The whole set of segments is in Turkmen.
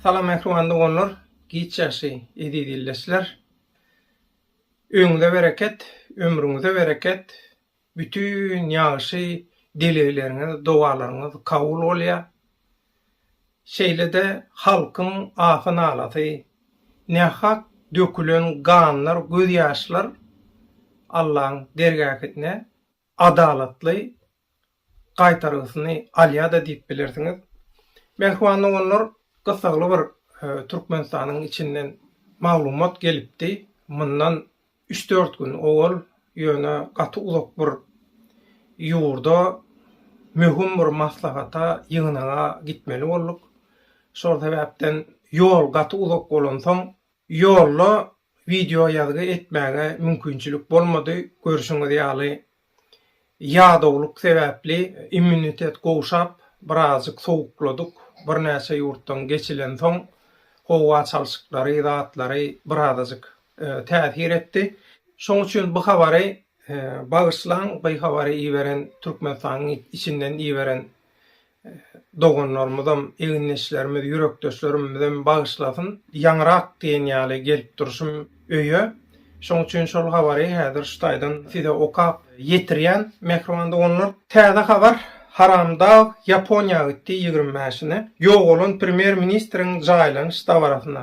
Salam ähli doganlar, giç ýagşy eziz ildeşler. Öňüňize bereket, ömrüňize bereket, Bütin ýagşy dilegleriňiz, dowalaryňyz kabul bolýar. Şeýle-de halkyň ahy-nalasy, nähak dökülen ganlar, gözýaşlar Allaň dergähinde adalatly gaýtargysyny alýar-da diýip bilersiňiz. Mähriban doganlar, gyssagly bir Türkmenistanyň içinden maglumat gelipdi. Mundan Üç-dört gün owal ýöne gaty uzak bir ýurda möhüm bir maslahata, ýygnaga gitmeli bolduk. Şol sebäpden ýol gaty uzak bolansoň, ýolda wideoýazgy etmäge mümkinçilik bolmady. Görşüňiz ýaly, Ýadawlyk sebäpli immunitet gowşap, birazjyk sowukladyk. Birnäçe ýurtdan geçilensoň, howa çalşyklary, zatlary birazajyk täsir etdi. Şoň üçin bu habary bagyşlaň, by habary iberen Türkmenistanyň içinden iberen doganlarymyzam, egindeşlerimiz, ýürekdeşlerimizem bagyşlasyn, ýaňyrak diýen ýaly gelip durşum öýe. Şoň üçin şol habary häzir şu taýdan size okap ýetirýän, mähriban doganlar. Täze habar, Haramdag Ýaponiýa gitdi ýigrimi bäşine, ýogalan premýer-ministriň jaýlanyş dabarasyna.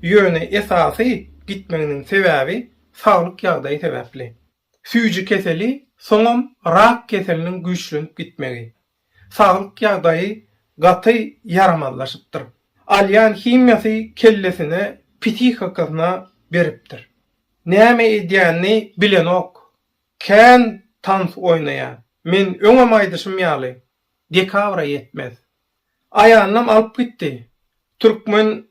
Ýöne esasy gitmeginiň sebäbi saglyk ýagdaýy sebäpli. Süýji keseli, soňam rak keseliniň güýçlenip gitmegi. Saglyk ýagdaýy gaty ýaramazlaşypdyr. Alýan himiýasy kellesine, psihikasyna beripdir. Näme edýänini bilenok. Kän tans oýnaýa. Men öňem aýdyşym ýaly, dekabra ýetmez. Aýalynam alyp gitdi. Türkmen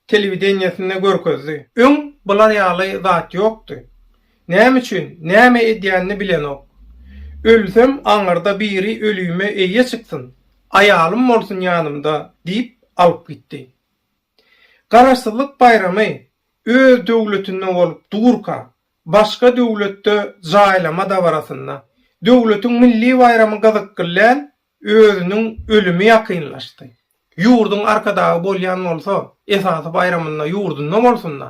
telewideniýesinde görkezdi. Öň bular ýaly zat ýokdy. Näme üçin, näme edýänini bilenok. Ölsem, aňyrda biri ölüme eýe çyksyn, aýalym bolsun ýanymda diýip alyp gitdi. Garaşsyzlyk baýramy öz döwletinde bolup durka, başga döwletde jaýlama dabarasynda, döwletiň milli baýramy gyzykly däl, Özüniň ölümi ýakynlaşdy. Ýurduň arkadagy bolýan bolsa, esasy baýramynda ýurdunda bolsun-da.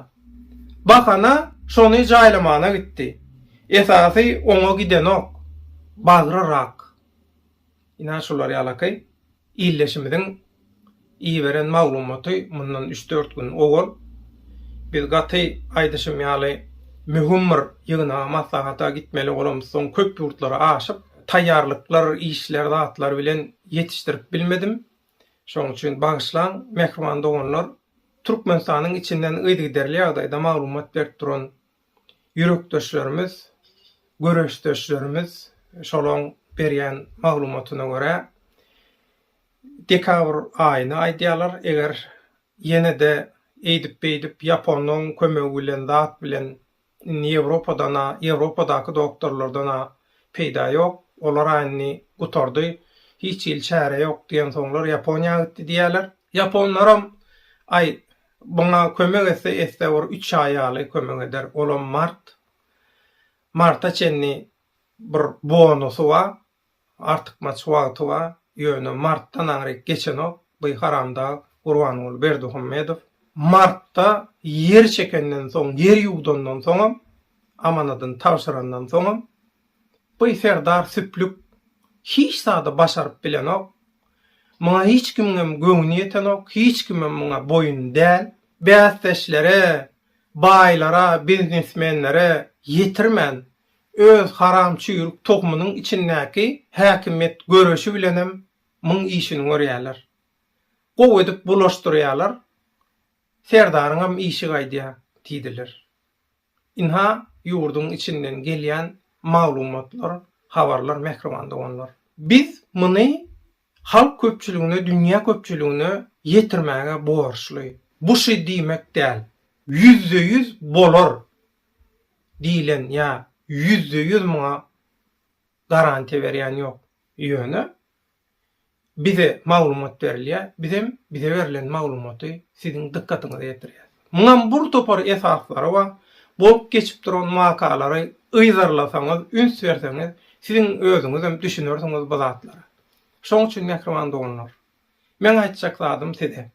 Bahana şony jaýlamagyna gitdi. Esasy oňa gidenok. Bagry rak. Ine şular ýalaky ildeşimiziň Iberen maglumaty mundan üç-dört gün owal biz gaty aýdyşym ýaly möhüm bir ýygnaga maslahata gitmeli bolamyz soň köp ýurtlara aşyp taýýarlyklar işler zatlar bilen ýetişdirip bilmedim şoň üçin bagyşlaň mähriban doganlar Türkmenistanyň içinden yzygiderli ýagdaýda maglumat berip duran ýürekdeşlerimiz göreşdeşlerimiz şolaň berýän maglumatyna görä Dekabr aýyny aýdýarlar, eger ýene-de eýdip-beýdip ýaponyň kömegi bilen zat bilen indi Ýewropadan-a, Ýewropadaky doktorlardan-a peýda ýok, olar-a indi gutardy, hiç hili çäre ýok diýensoňlar Ýaponiýa gitdi diýýärler. Ýaponlaram, aý, muňa kömek etse etse bir üç aý ýaly kömek eder, olam mart, marta çenli bir bonusy bar, Artykmaç wagty bar, ýöne martdan aňryk geçenok by haramdag Gurbanguly Berdihumedow. Martda ýer çekenden soň, ýer ýuwdandan soňam, amanadyny tabşyrandan soňam by serdar süplük hiç zady başaryp bilenok. Muňa hiç kimiňem göwni ýetenok, hiç kimem muňa boýun däl. Bäsdeşlere, baýlara, biznesmenlere ýetirmän, Öz haram çüýrük togumynyň içindäki häkimiýet göreşi bilenem myň işini görýäler. Gowy edip bulaşdyrýalar, Serdaryňam işi gaýdýa diýdiler. Ynha ýurduň içinden gelýän maglumatlar, habarlar mähriban doganlar. Biz muny halk köpçüligine, dünýä köpçüligine ýetirmäge borçly. Bu şy diýmek däl, ýüzde ýüz bolar diýlen ýa ýüzde ýüz muňa garantiýa berýän ýok. Ýöne bize maglumat berilýär, bizem bize berlen maglumaty siziň dykgatyňyza ýetirýäs. Muňam bur topar esaslary bar, bolup geçip duran wakalary yzarlasaňyz, üns berseňiz, siziň özüňizem düşünersiňiz bu zatlara. Şoň üçin mähriban doganlar, meň aýtjak zadym size,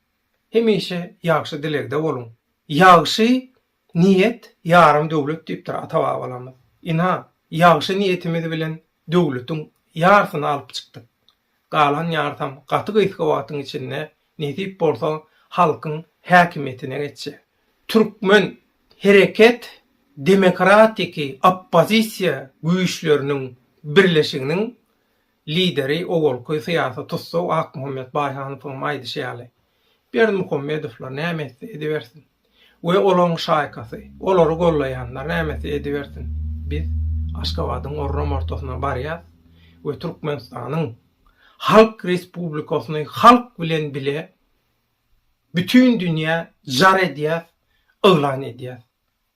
hemişe ýagşy dilegde boluň. Ýagşy niýet ýarym döwlet diýipdir ata-babalarymyz. Ynha, ýagşy niýetimiz bilen döwletiň ýarsyny alyp çykdyk. galan ýarysam gaty gysga wagtyň içinde nesip bolsa halkyň häkimiýetine geçjek. Türkmen hereket demokratiki oppozisiýa güýçleriniň birleşiginiň lideri owalky syýasy tussag Akmuhammet Baýhanowyň aýdyşy ýaly, Berdimuhamedowlar näme etse edibersin we olaryň şaýkasy, olary gollaýanlar näme etse edibersin, biz Aşgabadyň orram ortasyna barýas we Türkmenistanyň Halk Respublikasyny halk bilen bile bütin dünýä jar edýäs, yglan edýäs.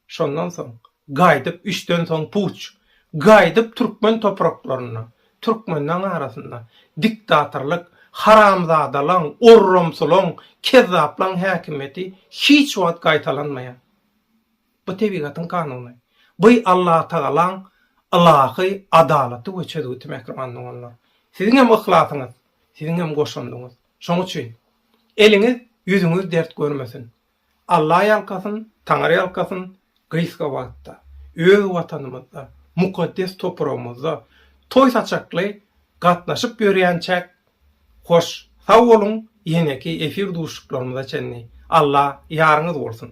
Şondan soň, gaýdyp üçden soň puç, gaýdyp türkmen topraklarynda, türkmenleň arasynda diktatorlyk, haramzadalaň, orramsylaň, kezzaplaň häkimiýeti hiç wagt gaýtalanmaýar. Bu tebigatyň kanuny. Bu Allatagalaň ylahy adalaty we çözgüti mähribanlar olar. Siziň hem yhlasyňyz, siziň hem goşandyňyz. Şoň üçin, eliňiz, ýüzüňiz dert görmesin. Alla ýalkasyn, Taňry ýalkasyn, gysga wagtda öz Watanymyzda, mukaddes topragymyzda toý saçakly gatnaşyp ýörýänçäk hoş sag boluň ýeňeki efir duşuşyklarymyza çenli Alla ýaryňyz bolsun.